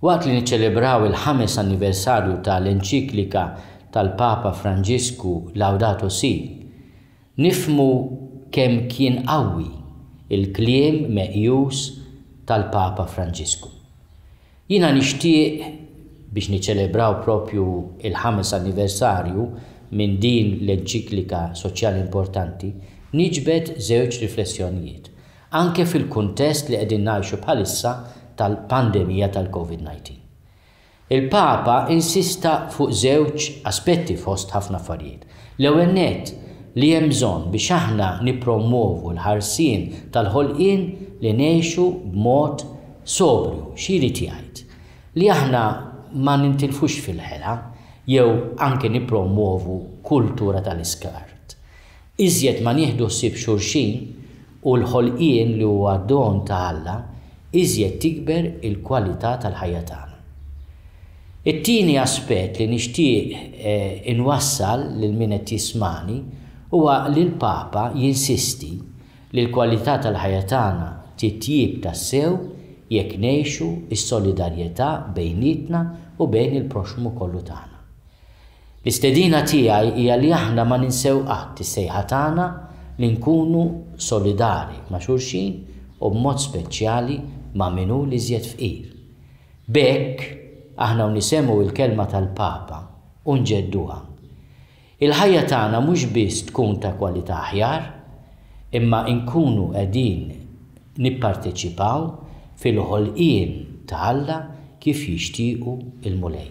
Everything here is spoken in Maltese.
Waqt li niċċelebraw il-ħames anniversarju ta' l-enċiklika tal-Papa Franġisku Laudato Si, nifhmu kemm kien qawwi l-kliem meqjus tal-Papa Franġisku. Jiena nixtieq biex niċċelebraw propju l-ħames anniversarju minn din l-enċiklika soċjali importanti, niġbed żewġ riflessjonijiet. anke fil-kuntest li qegħdin ngħixu bħalissa tal-pandemija tal-COVID-19. Il-Papa insista fuq żewġ aspetti fost ħafna affarijiet. L-ewwel nett, li hemm bżonn biex aħna nippromwovu l-ħarsien tal-ħolqien li ngħixu b'mod sobrju. Xi jrid jgħid? Li aħna ma nintilfux fil-ħela jew anke nippromwovu kultura tal-iskart. Iżjed ma nieħdu ħsieb xulxin u l-ħolqien li huwa don ta' Alla, iżjed tikber il-kwalità tal-ħajja tagħna. It-tieni aspett li nixtieq inwassal lil min qed jismagħni huwa li l-Papa jinsisti li l-kwalità tal-ħajja tagħna titjieb tassew jekk ngħixu s-solidarjetà bejnietna u bejn il-proxxmu kollu tagħna. L-istedina tiegħi hija li aħna ma ninsew qatt is-sejħa tagħna li nkunu solidari ma' xulxin u b'mod speċjali ma' min hu l-iżjed fqir. B'hekk, aħna u nisemgħu il-kelma tal-Papa u nġedduha. Il-ħajja tagħna mhux biss tkun ta' kwalità aħjar, imma nkunu qegħdin nipparteċipaw fil-ħolqien ta' Alla kif jixtiequ l-Mulej.